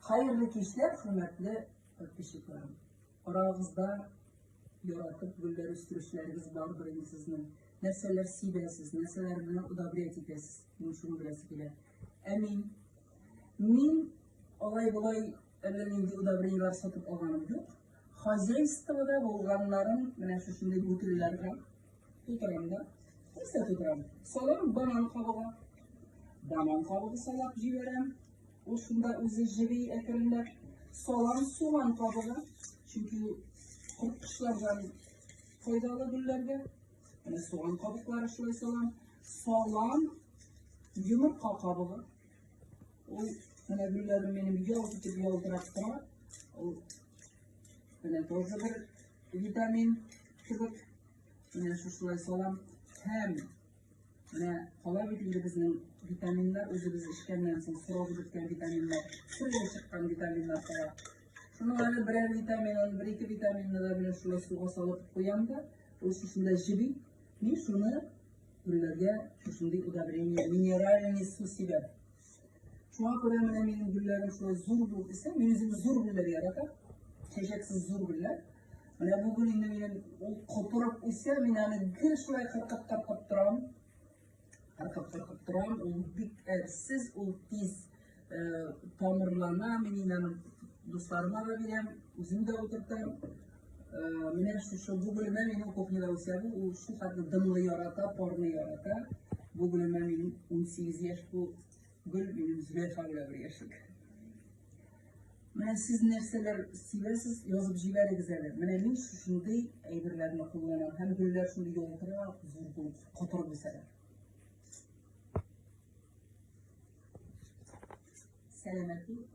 Хәерле кичләр, хөрмәтле подписчикларым. Арагызда яратып гөлләр үстерүчеләрегез бардыр инде сезнең. Нәрсәләр сибәсез, нәрсәләр белән удобрять итәсез, мин шуны беләсе килә. Ә мин, мин алай-болай әллә нинди удобрениелар сатып алганым юк. Хозяйствода булганнарын менә шушындый бутылларга тутырам да. Нәрсә тутырам? Салам банан кабыгы. Банан кабыгы салап җибәрәм. Ул шунда үзе җыри әкренләп. Салам суган кабыгы, чөнки корткычлардан файдалы гөлләргә. Менә суган кабыклары шулай салам. Салам йомырка кабыгы. Ул менә гөлләрем минем ялт итеп ялтырап тора. Ул менә тоже бер витамин кебек. Менә шушылай салам һәм Менә кала бит инде безнең витаминнар үзебез эчкәннән соң срогы беткән витаминнар, сырга чыккан витаминнар кала. Шуның әле берәр витаминын, бер ике витаминны да белән шулай суга салып куям да, ул шушында җеби. Мин шуны гөлләргә шушындый удобрение, минеральный су сибәм. Шуңа күрә менә минем гөлләрем шулай зур булып үсә. Мин үзем зур гөлләр яратам. Чәчәксез зур гөлләр. Менә бу гөл инде минем ул котырып үсә, мин аны гел шулай кыркып кыркып торам. Кыркып кыркып торам. Ул бик әрсез, ул тиз э, тамырлана. Мин инде аны дусларыма да бирәм, үзем дә утыртам. Менә шушы бүгелемә минем кухняда үсә бу, ул шулкадәр дымлы ярата, парны ярата. Бүгелемә мин 18 яшь бу гөл минем Зөләйха белән бер яшик. Менә сез нәрсәләр сөйләсез, язып җибәрегез әле. Менә мин шушындый әйберләрне кулланам һәм гөлләр шундый ялтырап, зур булып, котырып үсәләр. Сәламәт булып.